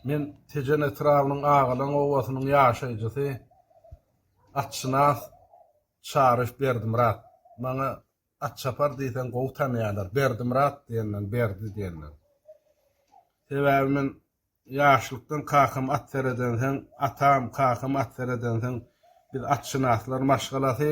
Men Tejen etrabynyň Agalan obasynyň ýaşaýjysy, atşynas Çaryş Berdimyrat. Maňa Atçapar diýseň gowy tanýarlar, Berdimyrat diýenden Berdi diýenler. Sebäbi men ýaşlykdan kakam at seredensoň, atam, kakam at seredensoň biz atşynaslar maşgalasy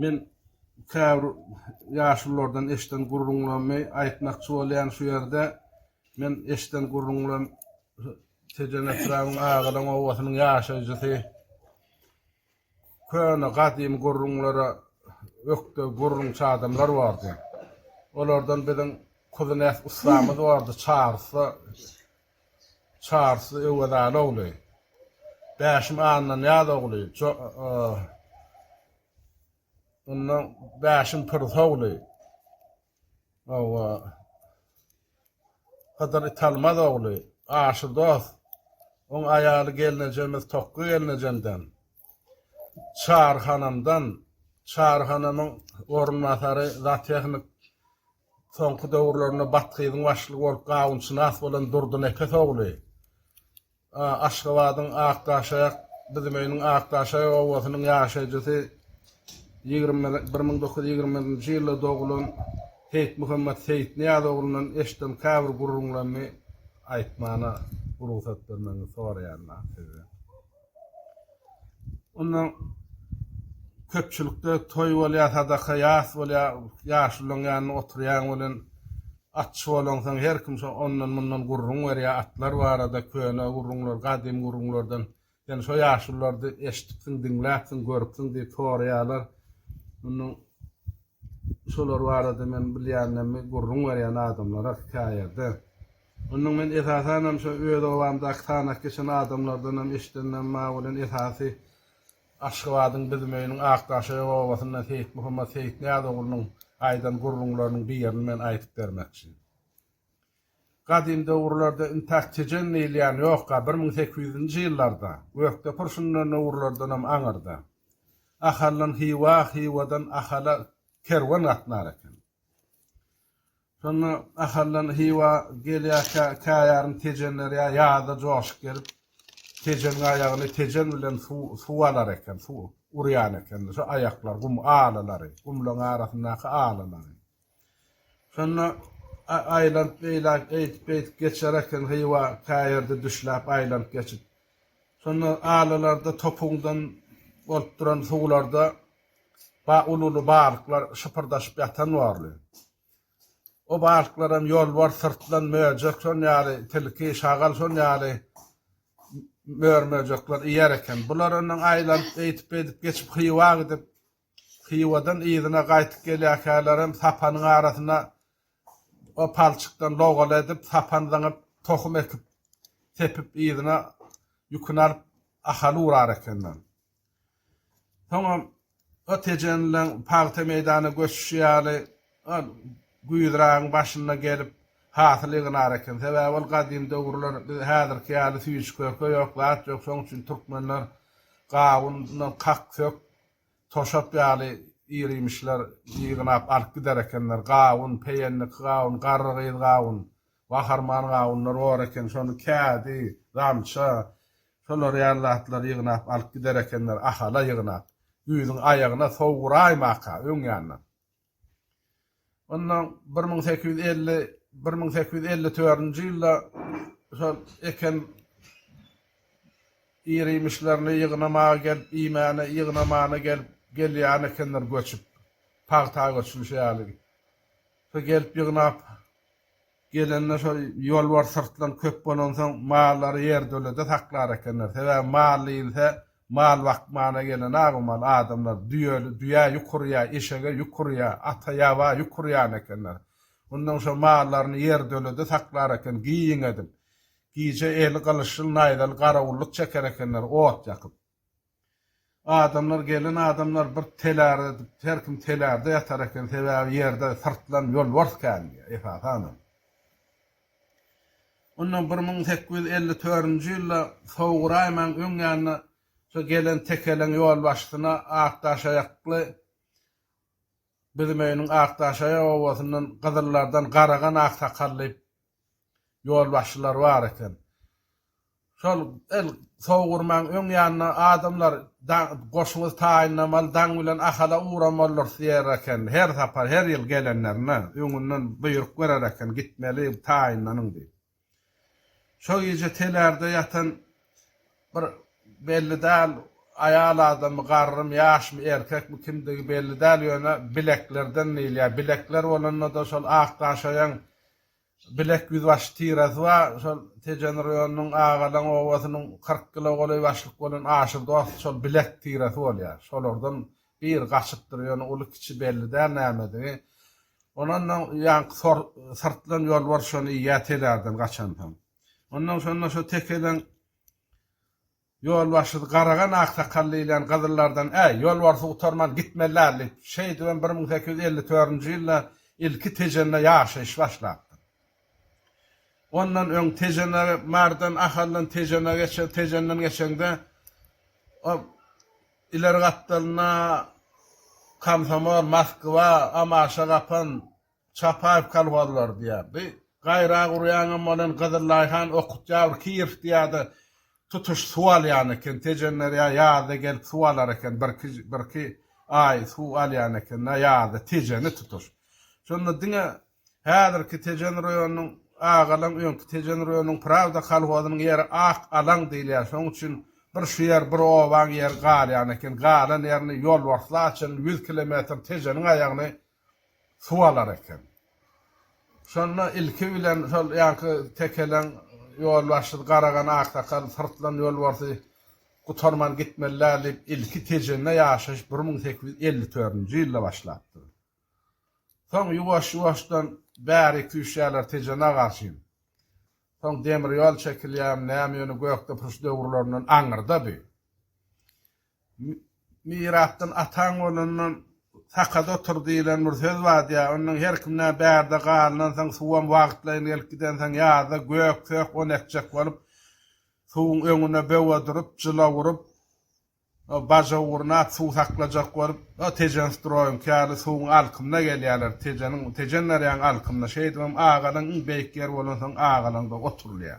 Men käbir ýaşululardan eşden gürrüňlerimi aýtmakçy bolýan şu ýerde. Men eşden gürrüňlem Tejen etrabyň Agalan obasynyň ýaşaýjysy. Köne gadymy gürrüňlere ökde gürrüňçi adamlar bardy. Olardan biziň Kuzynäs ussamyz bardy Çarysda Çarsy Öwezaly ogly. Bäşim Annanyýaz ogly. Onda Bäşim Pyrsa ogly. Hawa. Hydyr Italmaz ogly. Aşyr dost. Oň aýaly gelnejemiz Tokga gelnejemden. Çary hanamdan. Çary hanamyň orunbasary zatehnik Soňky döwürlerinde Bathyzyň başlygy bolup gawunşynas bolan Durdynepes ogly Aşgabadyň Akdaşaýak, Büzümeýiniň Akdaşaýak obasynyň ýaşaýjysy, bir müň dokuz ýüz ýigrimi birinji ýylda dogulan Seýitmuhammet Seýitnyýaz oglundan eşden käbir gürrüňlerimi aýtmana rugsat bermegiňizi soraýaryn, Sizden. Onda köpçülikde toý bolýar, sadaka ýas bolýar, ýaşulyň ýanynda oturýaň welin, atçy bolaňsoň her kim şo ondan-mundan gürrüň berýär, atlar barada, köne gürrüňler, gadym gürrüňlerden, sen şo ýaşulylary eşidipsiň, diňläpsiň, görüpsiň diýip soraýarlar. Onda şolar barada men bilýänlerimi gürrüň berýän adamlara hekaýada. Ondan men esasanam şo öz obamdaky sanaky geçen adamlardanam eşidendim maňa bolan esasy Aşgabadyň Bizimöýüniň Akdaşöýe obasyndan Seýitmuhammet Seýitnyýaz oglunyň aýdan gürrüňleriniň birini men aýdyp bermekçi. Gadym döwürlerde intäk Tejen diýilýän ýokka bir müň sekiz ýüzünji ýyllarda Gökdepir şundan döwürlerdenam aňyrda. Ahaldan Hywa, Hywadan Ahala kerwen gatnar eken. Şonda Ahaldan Hywa gelýärkä käýarym Tejenler ýa ýazda joşup gelip, Tejeniň aýagyny Tejen bilen suw alar eken, suw urýan ekenler. Şo aýaklar, gum alylary, gumlaryň arasyndaky alylary. Şonda aýlanyp beýle eýdip-beýdip geçer eken Hywa käýerde düşläp aýlanyp geçip. Şonda alylarda topuňdan bolup duran suwlarda Uly-uly balyklar şypyrdaşyp ýatan borly. O balyklaram ýolbars, syrtlan, möjek, şon ýaly tilki, şagal şon ýaly mör-möjekler iýer eken. Bular ondan aýlanyp, eýtip-beýdip geçip Hywa gidip, Hywadan yzyna gaýtyp gelýärkälerem sapanyň arasynda o palçykdan logala edip, sapan zyňyp, tohum ekip, sepip yzyna ýüküni alyp Ahala urar ekenler. Soňam ot ejenileň pagta meýdana göçüşi ýaly, ol güýzragyň başynda gelip, hasyl ýygnar eken. Sebäbi ol gadym döwürler, biz häzirki ýaly süýji-körpe ýok, zat ýok, şonuň üçin türkmenler gawundan kak-sök, toşap ýaly ir-iýmişler ýygnap alyp gider ekenler. Gawun, peýenlik gawun, garrygyz gawun. Gaharman gawunlar bor eken, şony kädi, gamça, şolar ýaly zatlary ýygnap alyp gider ekenler Ahala ýygnap, güýzüň aýagyna sowuraýmaka, öň ýandan. Onda bir müň sekiz ýüz elli, bir müň sekiz ýüz elli törünji ýylda şol eken ir-iýmişlerini ýygnamaga gelip, iýmäne, ýygnamana gelip, gelýän ekenler göçüp, pagta göçülişi ýaly. Şo gelip ýygnap. Gelende şol ýolbars syrtlan köp bolansoň mallary ýertölede saklar ekenler. Sebäbi mal diýilse mal bakmana gelen a bu mal adamlar düýeli düýä ýük urýa, eşege ýük urýa, ata ýaba ýük urýan ekenler. Ondan şo mallaryny ýertölede saklar eken giň edip. Gije eli gylyçly naýzaly garawullyk çeker ekenler ot ýakyp. Adamlar, gelen adamlar bir telärde, her kim telärde ýatar eken, sebäbi ýerde syrtlan ýolbars kän diýýär, esasanam. Ondan bir müň sekiz ýüz elli törünji ýylda Sowguraýmaň öň ýanyna şo gelen tekeleň ýolbaşçysyna ak daşaýakly Bizimeýiniň ak daşaýak obasyndan gyzyllardan garagan aksakal diýip Ýolbaşçylar bar eken. Şol el sowurmaň öň ýanyna adamlar goşuňyzy taýynlamaly, daň bilen Ahala ugramalydyrys diýer eken. Her sapar, her ýyl gelenlerinde öňünden buýruk berer eken, gitmeli, taýynlanyň diýip. Şo gije telärde ýatan bir belli däl aýal adamy, garrymy, ýaşmy, erkekmi, kimdigi belli däl, ýöne Bileklerden diýilýär. Bilekler bolanda-da şol Akdaşaýaň Bilek ýüzbaşy tirasy bar. Şol Tejen roýonynyň Agalaň obasynyň kyrk kilo golaý başlyk bolan Aşyr dost şol Bilek tirasy bolýar. Şolardan biri gaçypdyr, ýöne uly-kiçi belli däl nämedigi. Ondan soň ýaňky syrtlan ýolbars şony iýýär telärden gaçansoň. Ondan şonda şo tekeden Ýolbaşçysy Garagan aksakal diýilýän gyzyllardan Äý, ýolbarsy gutarman gitmeli däl diýip, şeýdibem bir müň sekiz ýüz elli dördünji ýylda ilki Tejende ýaşaýyş başlapdyr. Ondan öň Tejene, Mardan, Ahaldan Tejene geçer, Tejenden geçeňde ol ileri gapdalynda Komsomol, Moskwa, Amaşa, Gapan, Çapaýew kolhozlar diýerdi. Gaýra urýaňam welin Gyzyllaýhan okutýar bir Kiýew diýerdi. Tutuş suw alýan eken. Tejenderýa ýazda gelip suw alar eken. Birki birki aý suw alýan ekenler ýazda Tejeni tutuş. Şonda diňe häzirki Tejen roýonynyň Agalan öňki Tejen roýonynyň Prawda kolhozynyň ýeri ak alaň diýilýär. Şoň üçin bir şu ýer bir obaň ýeri galýan eken. Galan ýerini ýolbarsly açan ýüz kilometr Tejeniň aýagyny suw alar eken. Şonda ilki bilen şol ýaňky tekeleň ýolbaşçysy Garagan aksakal syrtlan ýolbarsy gutarman gitmeli-dä diýip, ilki Tejende ýaşaýyş bir müň sekiz ýüz elli dördünji ýylda başlapdyr. Soň ýuwaş-ýuwaşdan bäri küýseýärler Tejena garşyn. Soň demir ýol çekilýärmi, näme ýöne gökdepuruş döwürlerinden aňyrda bi. Mirasdan ataň bolandan sakada otur diýlen bir söz badýa, ondan her kimdä bärde galnansoň suwam wagtlaýyn gelip gidensoň ýazda gök sök on etjek bolup suwuň öňüne böwe durup jylaw urup o baja urnap suw saklajak bolup o tejen stroýumky ýaly suwuň alkymyna gelýäler tejeniň tejen darýaň alkymyna şeýdibem agalyň iň beýik ýeri bolansoň agalaňda oturylýa.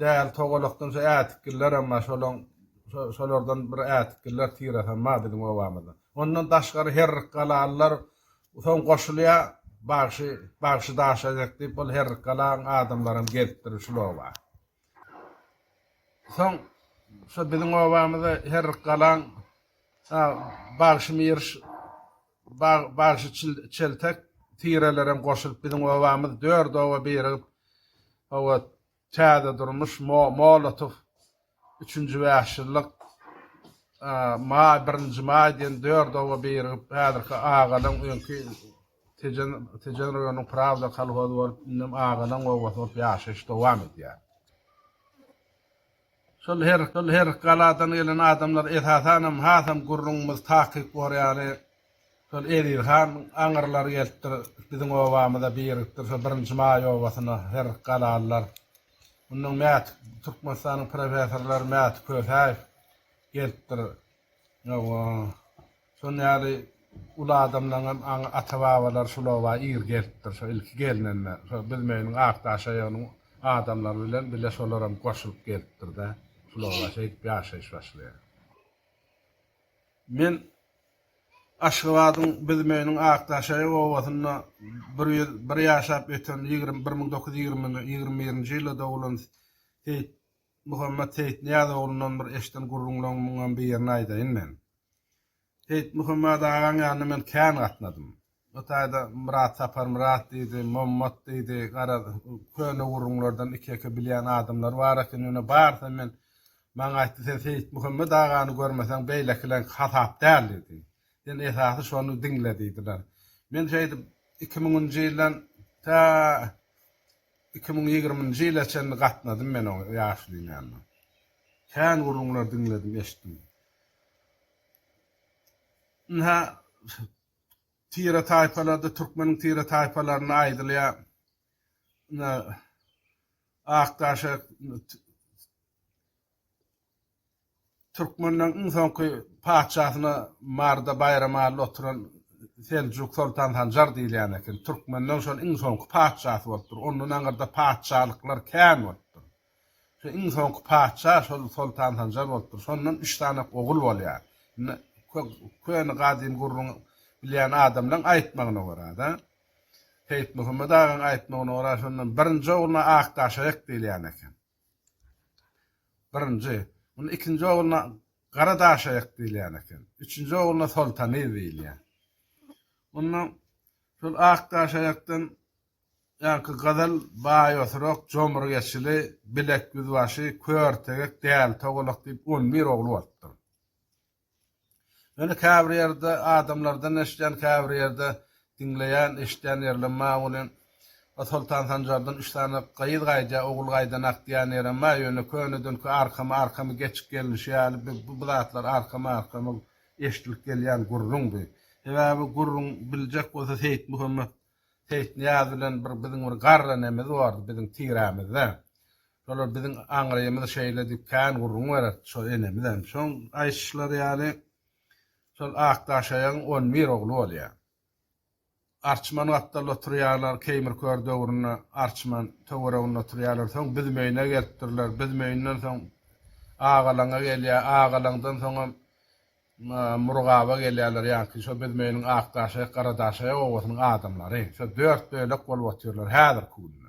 Däl togalakdan şu ätitgillerem bar, şolaň şolardan bir ätitgiller tirasam bar biziň obamyzda. Ondan daşgary herrikgalalylar soň goşulýar, bagşy bagşy daşajak diýip ol herrikgalaň adamlaram gelip durur şul oba. Soň şu biziň obamyzda herrikgalaň bagşy Miriş Bagşy çeltek tirelerem goşulyp biziň obamyz dört oba birigip hawa Täze durmuş, Molotow, Üçünji bäş ýyllyk, Maý, Birinji maý diýen dört oba birigip häzirki Agalaň öňki Tejen Tejen raýonynyň Prawda kolhozy bolup indem Agalaň obasy bolup ýaşaýyş dowam edýär. Şol her şol her galadan gelen adamlar esasanam hasam gürrüňimiz takyk borýary şol Eziz han aňyrlar gelipdir biziň obamyza birikipdir şol birinji maý obasyna her galalylar mundan Mäti Türkmenistanyň professorlary Mäti Kösäýew gelipdir ýow Şonuň ýaly uly adamlaryň hem aňy ata-babalary şul oba ir gelipdir. Şo ilki gelnende şo Büzmeýiniň ak daşaýagynyň adamlary bilen bile şolar hem goşulyp gelipdir-de, şul oba şeýdip ýaşaýyş başlaýar. Men Aşgabadyň Büzmeýiniň ak daşaýak obasynda bir ýüz bir ýaşap öten ýigrimi bir müň dokuz ýüz ýigrimi birinji ýylda dogulan Seýit Muhammet Seýitnyýaz oglundan bir eşden gürrüňleriň muňam birini aýdaýyn men. Seýitmuhammet agaň ýanyna men kän gatnadym. O taýda Myrat Saparmyrat diýdi, Mommat diýdi, garaz, köne gürrüňlerden iki-eke bilýän adamlar bar eken. Ýöne barysam men Maňa aýtdy, Sen Seýitmuhammet agany görmeseň, beýlekileňki hasap däl diýdi. Sen esasy şony diňle diýdiler. Men şeýdip iki müňünji ýyldan tä iki müň ýigriminji ýyla çenli gatnadym men o ýaşulyň ýanyna. Kän gürrüňler diňledim, eşitdim. Ynha, tire-taýpalarda, türkmeniň tire-taýpalarynda aýdylýar. Ynha, Akdaşek türkmenleriň iň soňky patyşasyna Maryda Baýramally oturan Seljuk soltan Sanjar diýilýän eken. Türkmenleriň şol iň soňky patyşasy bolupdyr. Ondan aňyrda patyşalyklar kän bolupdyr. Şu iň soňky patyşa şol Soltan Sanjar bolupdyr. Şondan üç sany ogul bolýar. Indi köne gadym gürrüň bilýän adamlaň aýtmagyna görä-de, Seýitmuhammet agaň aýtmagyna görä, şondan birinji ogluna Akdaşaýak diýilýän eken. Birinji. Onda ikinji ogluna Garadaşaýak diýilýän eken. Üçünji ogluna Soltanyz diýilýär. Onda şol Akdaşaýakdan Ýaňky gazal baý oturak, jomruk eçili, bilek ýüzbaşy, kör tegek, däli togalak diýip on bir ogly bolupdyr. Ýöne käbir ýerde adamlardan eşidýän, käbir ýerde diňleýän, eşidýän ýerlem bar welin, o Soltan Sanjardan üç sany gyz gaýdýar, ogul gaýdanak diýýän ýerem bar, ýöne könedinki arkama arkamy geçik gelnişi ýaly bu bu zatlar arkama arkama eşidilip gelýän gürrüňdi. Sebäbi gürrüň biljek bolsa Seýitmuhammet Seýitnyýaz bilen bir biziň bir garry nemiz bardy biziň tirämizde. Şolar biziň aňrymyz şeýle diýip kän gürrüň bererdi şo enemiz hem. Şoň aýyşyşlary ýaly şol Akdaşaýagyň on bir ogly bolýar. Arçman gapdalda oturýarlar Keýmir kör döwründe Arçman töwereginde oturýarlar. Soň Büzmeýine gelipdirler. Büzmeýinden soň Agalaňa gelýär. Agalaňdan soňam Murgaba gelýärler ýaňky şo biz meýniň Akdaşaýak Garadaşaýak obasynyň adamlary. Şo dört bölek bolup otyrlar häzirki günde.